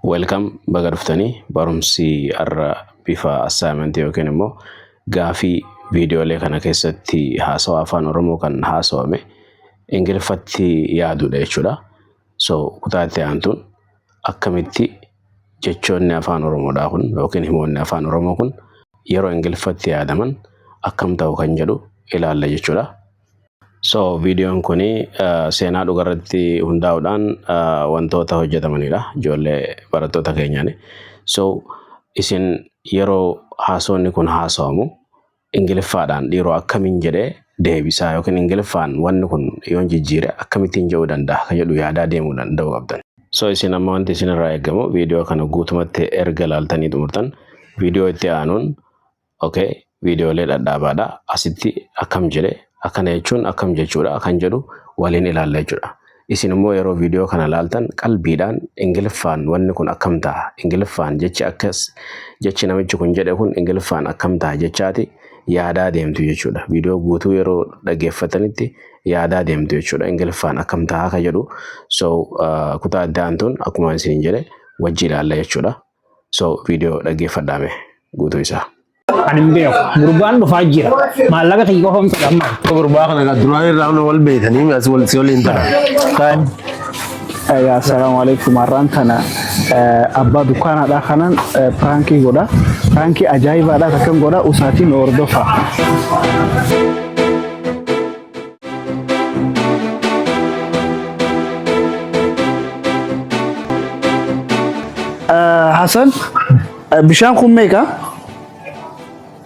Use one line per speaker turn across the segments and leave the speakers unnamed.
Welcome baga dhuftanii barumsi har'a bifa assignment yookiin immoo gaafii viidiyoolee kana keessatti haasawa afaan Oromoo kan haasawame Ingiliffatti yaaduudha jechuudha. So kutaa itti aantuun akkamitti jechoonni afaan Oromoodhaa kun yookiin himoonni afaan Oromoo kun yeroo Ingiliffatti yaadaman akkam ta'u kan jedhu ilaalla jechuudha. So viidiyoon kun seenaa dhugarratti hundaa'uudhaan wantoota hojjetamanidha ijoollee barattoota keenyaan. So isin yeroo haasoonni kun haasawamu ingiliffaadhaan dhiiroo akkamiin jedhee deebisaa yookiin ingiliffaan wanni kun yoon jijjiire akkamittiin jedhuu danda'a kan jedhu yaadaa deemuu danda'uu qabdan. So isin amma wanti isinirraa eegamu viidiyoo kana guutumatti erga ilaaltanii xumurtan viidiyoo itti aanuun okay viidiyoolee dhadhaabaadha asitti akkam jedhe akkana jechuun akkam jechuudha kan jedhu waliin ilaalla jechuudha. Isin immoo yeroo viidiyoo kana laaltan qalbiidhaan ingiliffaan wanni kun akkam ta'a ingiliffaan jechi akkas jechi namichi kun jedhe kun ingiliffaan akkam ta'a jechaati yaadaa deemtu jechuudha. Viidiyoo guutuu yeroo dhaggeeffatanitti yaadaa deemtu jechuudha ingiliffaan akkam ta'a kan jedhu so kutaa itti aantuun akkuma isin jedhe wajji ilaalla jechuudha. So video dhaggeeffadhaa mee guutuu isaa. Ani hin beeku.
Gurbaan dhufaa jira. Maallaqa kiyya qofa miti amma. Gurbaa kana kan duraan
irraa hunda wal beekanii as wal si waliin ta'a. Kaan
Egaa assalaamu alaikum har'aan tana eh, abbaa dukkaanaadhaa kanan eh, piraankii godha. Piraankii ajaa'ibaadhaa takkan godha usaatiin hordofa. Hasan bishaan kun meeqa?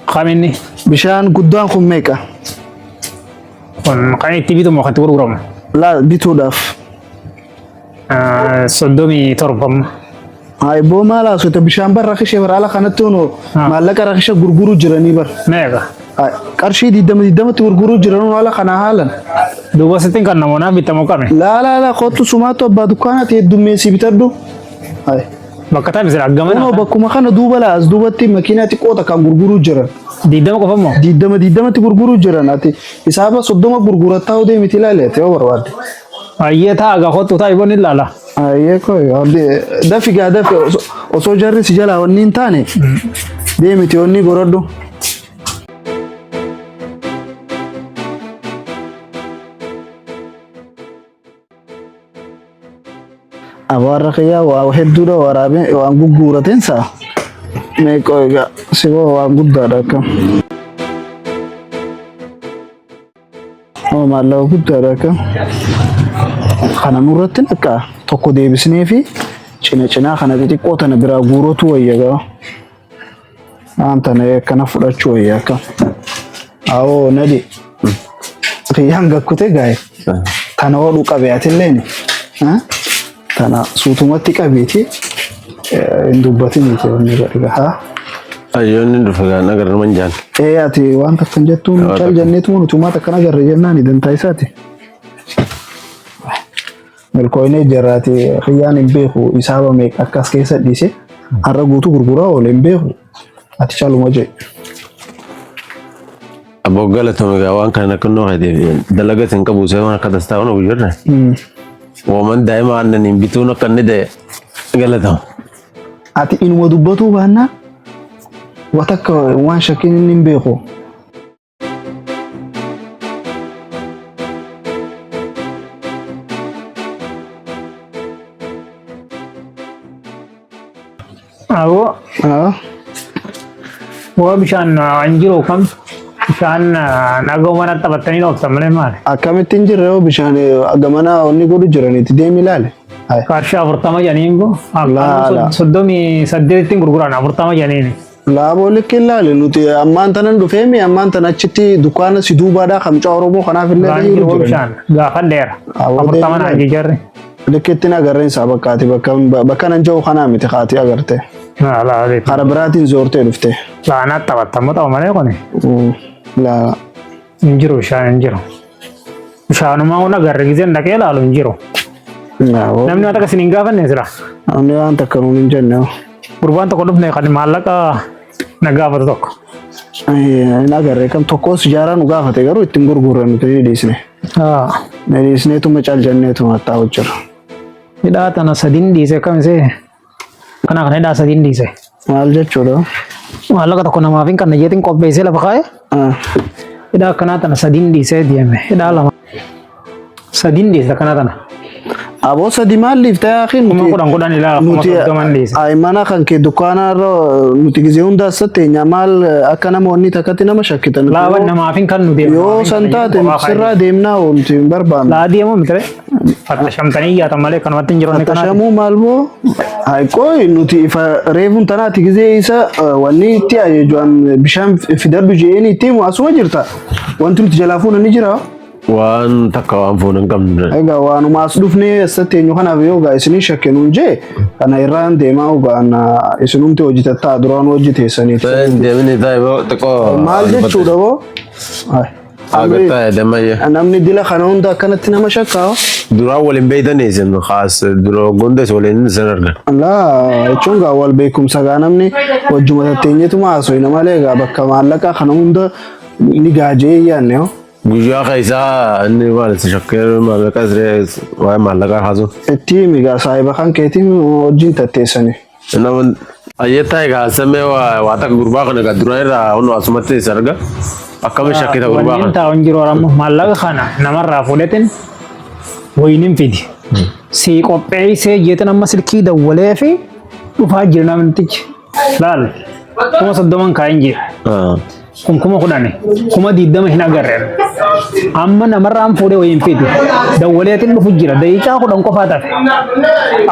Kan inni Bishaan guddaan kun meeqa? kun kan itti bitamu kan itti gurguramu Laa bituudhaaf.
ah,
soddomii torba amma.
Aiboo maal haasota bishaan bar rakishe bar ala kanatti hono maallaqa rakisha gurguruu jiranii bar. Meeqa? Ay,
Qarshii
digdama digdamatti gurguruu jiranuu ala kana haalan. Duuba sittiin
kan namoonaa bitamu qame. Laa laa laa kottu
sumaattu abbaa dukkaanaati heddummeessii bitadhu. Ay,
Bakka taa'e misira Kunoo aggamana. bakkuma kana duuba
laa as duubatti makiinaa xiqqoo takkaan gurguruu jiran. Diidama qofa moo?
Digdama digdamatti gurguruu
jiran ati hisaaba soddoma gurgurattaa odee miti ilaali ati yoo barbaadde. Ayyee taa
aga kottu taa iboon ilaala. Ayyee koo
dafi gaa dafi osoo jarri si jalaa wanni hin taane deemiti wanni gorodhu. Abaarra kiyyaa waa hedduudha waraabee waan gugguurateen saa meeqoo egaa si waan guddaadha akkam. Nama maallaqa guddaadha akka kana nurratti akka tokko deebisnee fi cina cinaa kana xixiqqoo tana biraa guurotu wayya gaa. Waan tana akkana fudhachuu wayya akka. Awoo nadi. Kiyyaan gakkute gaa'e. Tana hodhuu qabe atilleen. Kana suutumatti qabiiti hin dubbatin itti wanni godhe gahaa. Ayyoonni dhufe kan agarra man jaan. Ee ati waan
takka hin jettuun Waan cal takka. jenneetu utumaa takkan agarre jennaan dantaa isaati. Milkooyinee jaraati kiyyaan hin beeku isaaba meeqa akkas keessa dhiise har'a guutuu gurguraa oole hin beeku ati caluma jedhe.
Abbo galatoomi gaa waan kana nakkannoo keetiif dalagas hin qabu seeman akka dastaa kun hojjirre. Wooman daa'ima aannaniin bituun akka inni ta'e galatama.
Ati inuma dubbatuu baannaa watakka waan shakkiin inni hin beeku. Aboo waa bishaan hin jiru kam bishaan nagoo mana taphattanii ooftan malee maali? Akkamitti hin jirre hoo
bishaan gamana onni godhu jiranitti deemi ilaale. Qarshii afurtama
janiin kun Laala. soddomii saddeettiin gurguran afurtama janiin. Laaboo likki
ilaale nuti ammaan tanan dhufeemi ammaan tan achitti dukkaana si duubaadhaa kamcaa Oromoo kanaaf illee Waan jiru jiru jiran. bishaan
gaafadheera. Aboo afurtama deemi naan ilaali. jijjarre. Likkittiin agarreen
isaa bakkaati bakka bakka nan jiru kanaa miti kaati agarte. Laalaaliif. Kara biraatiin zoortee dhufte. Laanaa taphattamu
ta'u malee kuni. Laala.
Hin jiru
bishaan hin jiru. Bishaanumaa kun agarre gizeen dhaqee laalu hin jiru. Naawoo. Namni waan takka isin hin gaafanne sila. Namni waan takka
nuun hin jenne. Gurbaan tokko dhufne
kan maallaqa Na gaafata tokko. Hin
agarre kam tokkos ijaaraa nu gaafate garuu ittiin gurgurre nuti ni dhiisne. Haa. Ni
dhiisneetuma
cal
jenneetuma hattaa
hojjirra. Hidhaa
tana sadiin
dhiise akkam
isee?
Kana kana hidhaa sadiin dhiise. Maal jechuudha?
Maallaqa tokko
namaaf hin qabne jeetiin qopheessee lafa kaa'e. Ah. Hidhaa akkanaa tana sadiin dhiisee deeme. Hidhaa lama. Sadiin dhiyeessa kana kana. Aboo sadi
maal dhiifte yaakiin Kuma kudhan kudhan ilaa kuma
nuti soddoman dhiyeessa. aimana kan kee
dukkaanaa irra nuti gizee hundaa satteenya maal akka nama wanni takkatti nama shakkita nuti Laaban yoo- namaaf hin kan nu
deemu. yoo san taate
sirraa deemnaa wanti hin barbaannu. Laa deemuu miti ree.
Fatta shamtanii iyyaatan malee kanumatti hin jiran kanaa. Tashamuu maal boo
haiqooyi nuti ifa reefuun tanaati gizee isa eh, wanni itti ajeejuan bishaan fidadhu jeeni itti himu asuma jirta wanti nuti jalaa fuuna ni jira. Waan takka
waan foon hin qabne. Egaa waanuma as
dhufnee eessatti eenyu kanaaf yoo gaa isinii shakke nuun jee kana irraan deemaa ogaan isinumti hojjetattaa duraan hojii teessanii. Ta'een deemini ta'e boo
xiqqoo. Maal jechuudha boo?
Ay, Akka
amri- ta'e dammayya. Namni dila kana hunda
akkanatti nama shakkaa hoo? Duraan waliin
beeytanii isin kaas duroo gondes waliin isin argan. Laa jechuun
gaa wal beekumsa gaa namni wajjuma tatteenyeetuma haasofna malee gaa bakka maallaqaa kana hunda ni gaajee yaanne hoo? Guyyaa keessaa
inni maal itti shakkee maallaqa siree waa'ee maallaqaa haasoo. Itti migaa saahiba
kan keetiin wajjin tatteessani. Nama
ayyattaa egaa samee waa takka gurbaa kana egaa duraan irraa hunu asumatti isa arga. Akkami shakkita gurbaa Waliin kana. taa'uun jiru ammoo
maallaqa kana namarraa fuudhetin wayinin fidi. Sii qopheessee jeetin amma silkii dawwalee fi dhufaa jira namtichi. Laal kuma soddoman kaa'in jira. Ah. kun kuma kudhani kuma diddama hin agarre amma namarraan fuudhee wayiin fiiti dawwaleetiin dhufu jira daqiiqaa kudhan qofaa tafe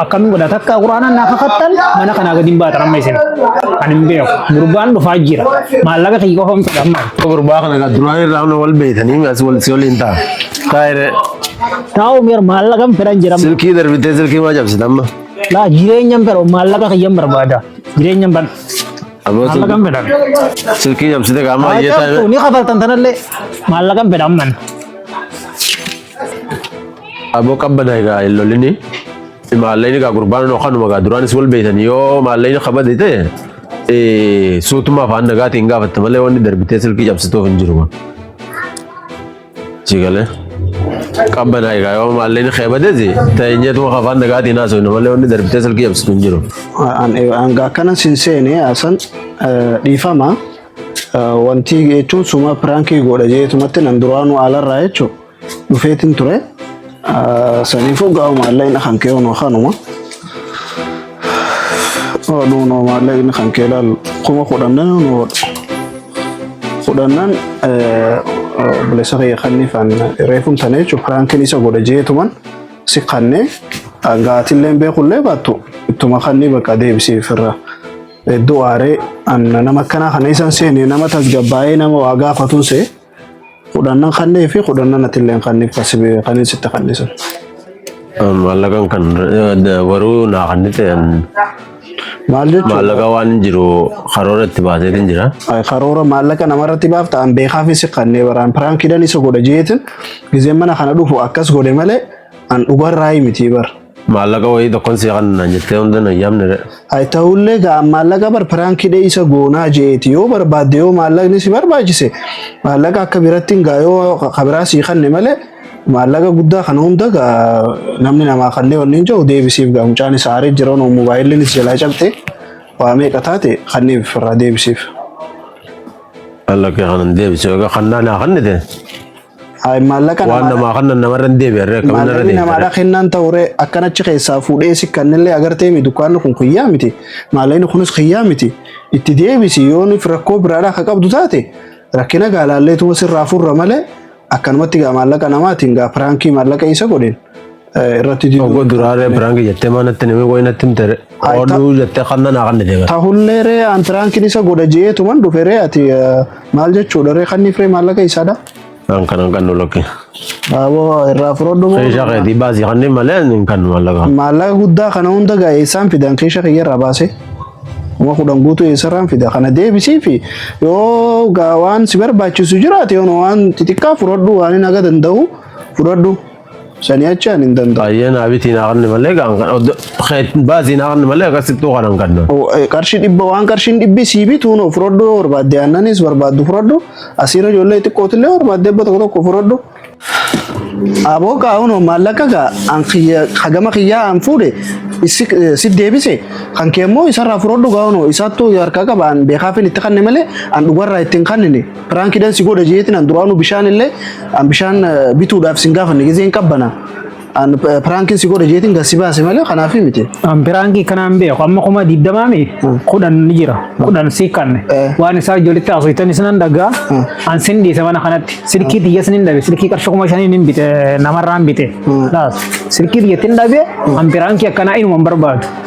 akkamiin godha takka quraanaan naa kakattan mana kanaa gadi hin baatan amma isin ani hin beeku gurbaan dhufaa jira maallaqa kiyya qofa miti amma Gurbaa kana kan duraan
irraa hunda wal beekanii as wal si waliin ta'a. Taa'ire taa'u
miira maallaqan fedhan jira silkii darbitee silkii maa
cabsita amma. laa jireenyan
fedhu maallaqa kiyyan barbaada jireenyan ban Aboo Maallaqa hin fedhan. silkii- silkii cabsite
qaamaa Haa iyyataa cabsu, ni kafaltan tanallee.
Maallaqa hin fedhan man.
aboo qabbada egaa hin lolini. Maalleen egaa gurbaan noo kanuma egaa duraanis wal beekan yoo maalleen kabade ta'e eh, suutuma afaan nagaatiin gaafatta malee wanni darbitee silkii cabsituuf hin jiru. Si galee. Qabbanaa egaa yoo maalleen kee badeeti teenyeetu afaan nagaatii naasoo hin malee wanni darbitee salgii yabsitu hin jiru. Hanga
akkana sin seene asan dhiifama wanti jechuun suma piraankii godha jeetumatti nan duraanuu alarraa jechuun dhufeetiin ture. Saniifuu gaa'u maallaqni kan kee hunoo kanuma. Oolu hunoo maallaqni kan kee ilaalu kuma kudhannan hunoo oolu. Kudhannan obboleessa kiyya kanni kan reefuun tane jechuun piraankiin isa godha jeetuman si kanne gaatillee beekullee baattu ittuma kanni bakka deebisee firra. Hedduu aaree nama akkanaa kana isan seene nama tasgabbaa'ee nama waa gaafatuun see. Kudhannan kannee fi kudhannan atilleen kanniif kan sitti kannisu.
Maallaqan kan waruu naa kanni ta'an
Maal jechuudha? maallaqa waan jiru
karoora itti baaseetiin jira. Ay, karoora maallaqa
namarratti baaf ta'an beekaa fi si kannee baraan piraankiidhaan isa godha jeetin gizeen mana kana dhufu akkas godhe malee an dhugarraa miti bara. Maallaqa wayii tokkon
sii kan naan jettee hunda na yaamne. Hay ta'ullee
ga'a maallaqa bar piraankii dheeysa goonaa jeeti yoo barbaadde yoo maallaqni si barbaachise maallaqa akka biratti hin ga'a yoo ka biraa sii kanne malee maallaqa guddaa kana hunda ga'a namni namaa kannee wanni hin jiru deebisiif ga'a mucaan isa aaree jira noo moobaayilli is jalaa cabte waa meeqa taate kanniif irraa deebisiif. Maallaqa
kanan deebisee egaa kannaa naa kannite. Hayi
maallaqa Waan namaadha. namaa kannan namarra
hin deebi'an ree akkamiin irra Maallaqni namaadha deebi'an. kennaan ta'uree
akkan achi keessaa fuudhee si kannillee agartee mi dukkaanni kun kiyyaa miti maallaqni kunis kiyyaa miti itti deebisi yoonif rakkoo biraadhaa akka qabdu taate rakkina gaalaalleetuma sirraa furra malee akkanumatti gaa maallaqa namaatiin gaa piraankii maallaqa isa godheen irratti diduu Oggo duraaree piraanki
jettee maa natti namee qoyi natti himte Ay, ta- oduu jettee kanna naa kanna deeman. tahullee ree an
piraankiin isa godha jeetuman dhufe ree ati eh, maal jechuudha ree kanniif ree maallaqa isaadha Kan kanan kan
nulakki. aboo
irraa furodhu moo Keeshaa keetii baasii kanneen
malee hin kan mallaqa. maallaqa guddaa kana
hunda gaa eessaan fidan keesha kiyya irraa baase kuma kudhan guutuu eessarraan fida kana deebisii fi yoo gaa waan si barbaachisu jiraate yoo waan xixiqqaa fudhadhu waan hin haga danda'u fudhadhu Sanii achi ani hin danda'u. Baay'ee naa bitii naa qarni
malee gaan kan oddo baasii naa qarni malee akkasittuu kan hin qabne. O- eh, Qarshii dhibba waan
qarshiin dhibbi sii bituun of fudhadhu yoo barbaadde aannanis barbaaddu fudhadhu asiirra ijoollee xiqqootillee barbaadde ebba tokko tokko fudhadhu. Aboo kaa'uun maallaqa gaa an kiyya- hagama kiyyaa an fuudhe issi- eh, si deebise kan kee immoo isarraa fudhadhu kaa'uun isaattuu harkaa qaba an beekaafin itti kanne malee an dhugarraa ittiin kannine. Piraankiidhaan si godha jeetiin an duraanuu bishaan illee an bishaan eh, bituudhaaf sin gaafanne gizee hin qabbana. An eh, piraankiin si godha jeetiin gad si baase malee kanaaf miti. An piraankii kanaan
beeku amma kuma digdamaa mi kudhan ni jira kudhan si kanne Eh. waan isaa ijoollitti haasoftan isinan dhagaa Mm. an sin dhiise mana kanatti silkii tiyya sin hin dhabe silkii qarshii kuma shaniin hin bite namarraan bite Mm. laas silkii tiyya tin dhabe an piraankii akkanaa inuma hin barbaadu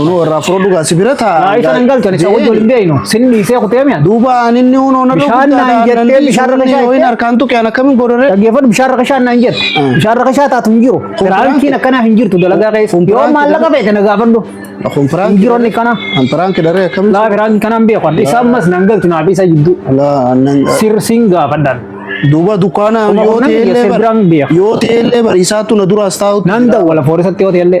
Unu irraa fudhadhu gaa si bira taa. Naa isa nan galchan isa wajjin
hin beeknu. Sin dhiisee kutee mi'a. Duuba ani inni unu na
Bishaan naan jettee
bishaan irra bishaan Hoin harkaan tuqe an akkamiin
godhore. Dhaggeeffadhu bishaan rakashaan
naan jette. Bishaan rakashaa taatu hin jiru. Firaankiin akkanaa hin jirtu dalagaa keessa. Yoo maallaqa feete na gaafadhu. Kun firaanki. Hin jiru
inni kana. An
firaanki dharee akkamiin.
Laa firaanki kanaan beeku.
Isa ammas nan galchu naaf isa jidduu. Laa nan. Sir siin gaafadhaan. Duuba dukkaana
Kuma yoo kudhan ta'e biyya illee Serbiraan biyya. yoo ta'e illee bariisaatu na duraas taa'u. Nan dawwala foorisatti
yoo ta'e illee.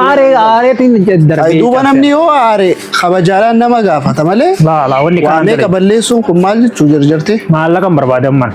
Aaree aareetiin darbee. Ay duuba namni yoo aare
kabajaadhaan nama gaafata malee
Laala wanni waa
kanaan meeqa darbee. balleessuun
kun
maal jechuu jarjarte?
Maallaqa hin
barbaadan mana.